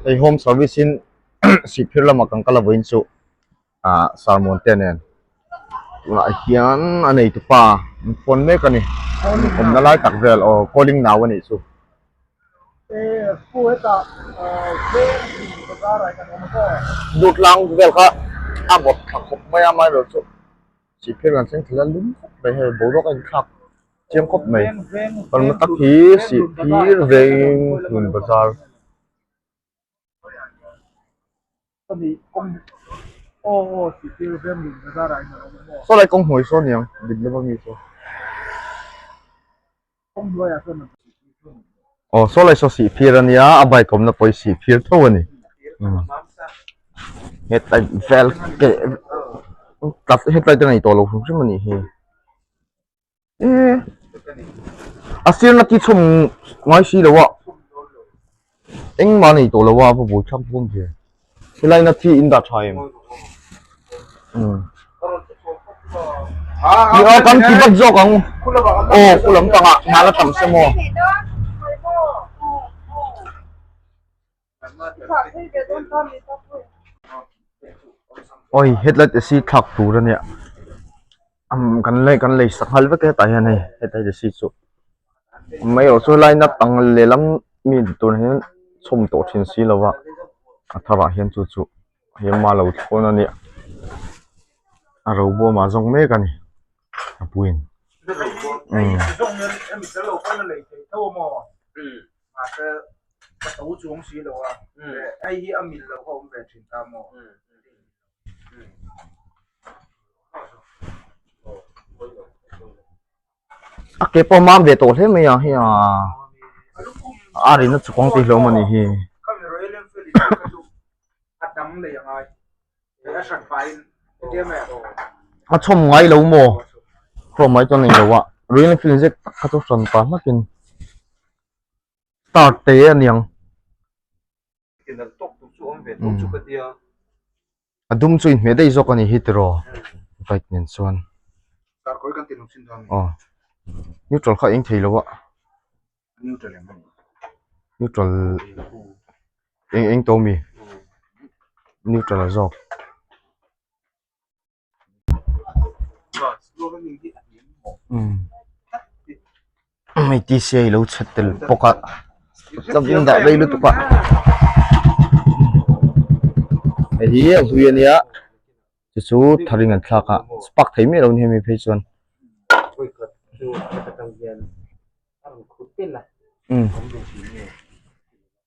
hei home service in sihphir lama kan kal a vawiin chu ah sermon te nen tunah hian a neitupa an phone mek a ni awmna lai tak vel aw calling nau a nih chu duh tlang vel kha a bawrhthla khawp mai a amaherawhchu. Sipiang an seng thila lum khawp mai hei boruak a inthlak chiang khawp mai kan la tak hi sihphir veiin hun bazar sawlai kawng hmawih sawn niang dik lova mi sawn. Aw saw lai saw sih fir ania a bike awmna pawh i sih fir tho a ni hetlai vel keh tlat hetlai te nei tawh lo hrim hrim a nih hi eee a firna tih chhawm ngai si lo a. Engmah nei tawh loh a, va buai chap dawn thin. Helai na thi in dah tha em? Ni aw kan ti bat zawk ang u. Aw khua lam panga hna la tam se maw? Awih, headlight a si thlak tur a nia. kan lei kan lei sak nghal vek a hetah hian hei hetiang te si chu mai erawh chu line up ang lehlam mi tur hian chhawm tawh thin si lo a a thar ah hian chu chu hei hi amah lo thawn a nia a robo amah zawng mek a ni apuiin umm a ke pawh a mam ve tawh hle mai ang hiya a rin a chhuk ang tih hlawm anih hi. a chhawm ngai lo maw chhawm ngai chuan a nih loh a royal enfield zet tak kha chu hran pa hmakin start tê aniang. a dum chu inhmeh daih zawk a ni hi tiraw bike nen chuan aw neutral kha a eng thei loh a neutral eng eng tawh a mi neutral zawk. mai t c a i lo chhat tel bawk a chauviin dah vei lutuk a hei hi a hlui a nia chu chu thar in an thlak a spark theih miah lo nia hemi phei chuan umm.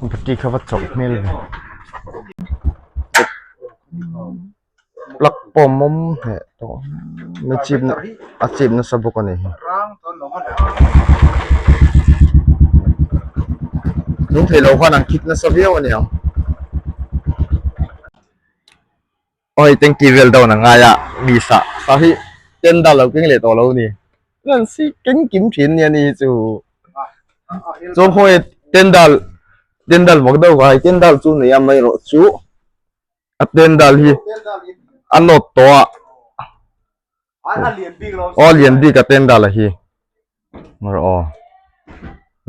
battery kha va chawlh hmel mai plug pawh mawm hmeh tawh a chip na a chip nasa bawk a ni hlum theih loh khan an khit nasa viau a ni ang. Awii tengti vel dawn a ngai a mi sa sa hi ten dan lo keng leh tawh lo ni nan si keng kim thin nia ni hi chu chuan khawi ten dan ten dan vak deuh ka hai ten dan chu nei a mai rawh chu a ten dan hi a nawt tawh a a lian bik lo aw lian bik a ten dan la hi hma rawh aw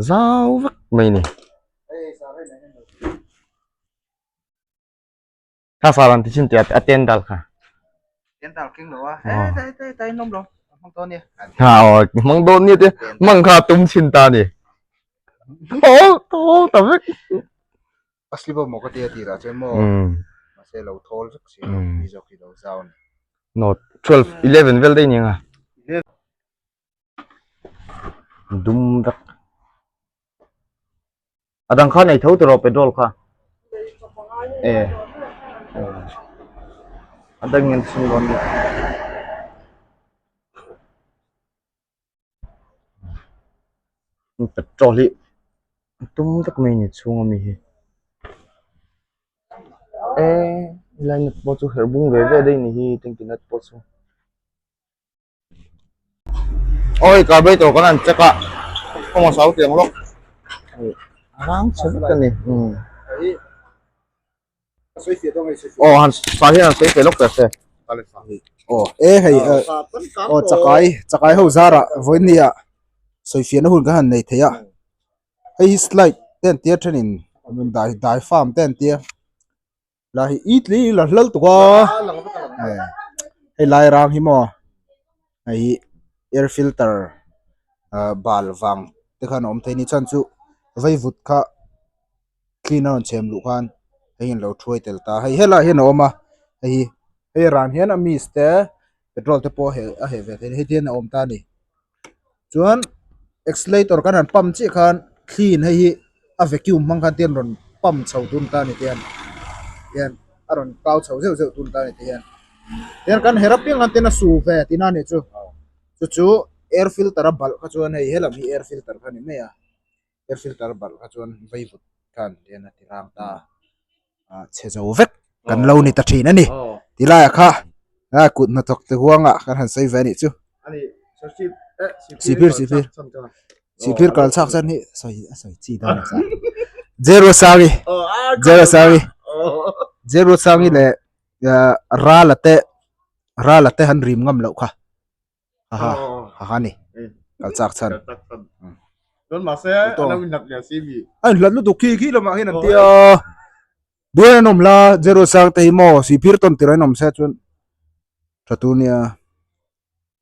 zau vek mai ni. Ka sa ran ti chin tia a ten dal kha. Ten dal king lo a. Ai tai tai tai nom lo. Mang do ni. Ha o mang do ni te mang kha tum chin ta ni. O to ta vek. Asli bo mo ka tia ti ra che mo. Ma se lo thol vek si ni zo ki lo zau ni. No 12 11 vel dei ni nga. dum vek a dang kha nei tho tawh lo petrol kha e a dang in chhung lo nia petrol hi tum vek mai ni chhung ami hi e line pawh chu herh bung ve ve daih ni hi tanki nut pawh chu Oi carburetor kan an check a kawng a sau tiang lawk a rang che vek a ni um oh han sa hian an sawi feh lawk teh se oh e hei oh chakai chakai ho zara vawiin nia sawi fiahna hun kan han nei thei a hei hi slide te an tir thenin dai dai farm te an tir. lai hi it leh hi la hlal tuk a hei lai rang hi maw hei hi air filter ah bal vang te khan awm theih a ni chuan chu vaivut kha clean a rawn chhem luh khan hei hi an lo thuai tel ta a hei helaiah hian a awm a hei hi hei ran hian a miss te-- petrol te pawh a heh ve thei a ni hetiang in a awm ta a ni chuan accelerator kan han pump chiah khan clean hei hi a vacuum hmang khan tian rawn pump chho tun ta a ni tihia tihian a rawn kau chho zeuh zeuh tun ta a ni tihia tian kan her apiang khan tian a su ve tina a nih chu chu chu air filter a balh kha chuan hei he lam hi air filter kha a ni mai a. air filter a balh kha chuan vaivut khan lian a ti rang ta a chhe zo vek kan lo ni ta thin a ni ti laiah kha a kut hnathawk te huanga kan han sawi ve a nih chu sipir sipir sipir kal chhak chuan hi sawi a sawi chi dang a zero sari zero sari zero sari leh ra la te ra la te han rim ngam loh kha Haha, haha ni. Kal chak chhan. Don ma se a lo inlat leh si mi. Ai hlat lutuk khi khi lawmah hian an ti a. Bial an awm la, zero sang te hi maw, sipir tawn tirah an awm se a chuan tha tur nia.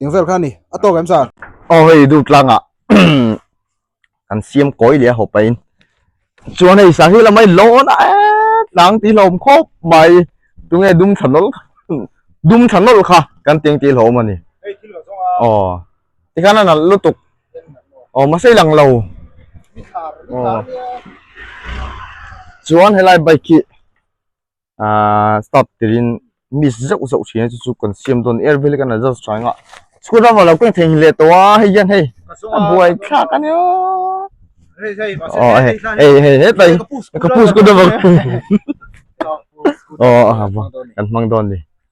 Engvel kha a ni. A tawk em sa? Aw hei duh tlangah kan siam kawi leh a haw pahin chuan hei sahil lamai lawn a et nang tih hlawm khawp mai tunge dum tha nawlh dum tha nawlh kha kan tih ang tih hlawm a ni aw tikhan a nalh lutuk aw mahse i lang lo aw chuan helai bike hi aaa start tirhin miss zauh zauh chhina chu chu kan siam dawn er vek an la zar thin a school ram ah lo pawh thei leh tawh a hei hian hei a buai thlak a nia aw hei hei hei hetlai ka pu school ram ang aww kan hmang dawn a ni.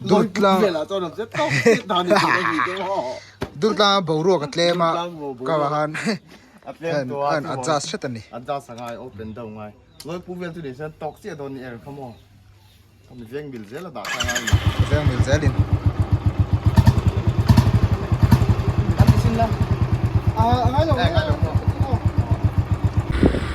Dultlang Dultlanga boruak a tlem a ka va han an adjust hret a ni adjust a ngai open deuh ngai loi pu vel chu ni sen tawk chiah dawn ni er kha maw ka mi veng mil zel a dah kha ngai veng mil zel in a ngai lo ngai lo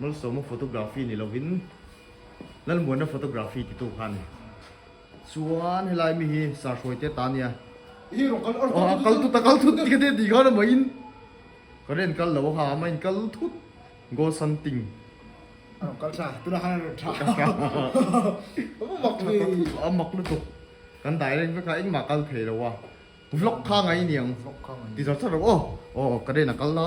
Malsawma photography ni lovin Lalmuanna photography ti tu khan chuan helai mi hi Sarhruai te ta nia. Aw kal tut a kal thut ka ti tih khan amahin ka ren kal lo a ha ama in kal thut goal santing a rawn kal tha tunah khan a rawn tha a mak lutuk kan dai reng vek a engmah kal thei lo a vlog kha ngai niang ti zarh zarh lo aw aw ka ren a kal la.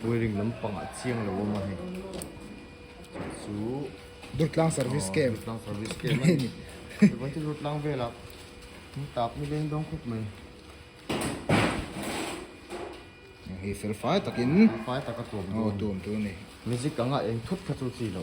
Buairim lampangah chiang lo awm a hei chu Durtlang service camp Durtlang service camp a ni chuan chu Durtlang vela thing tap ni leng dawng khawp mai hei fel fai takin fel fai taka tuam dawn aw tuam tur ni music anga eng thut kha chu chi lo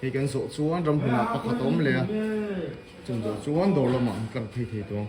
Hei kan zawh chuan ram huna pakhat a awm leh a, chumi zawh chuan dawr lamah an tlang phei thei tawh ang.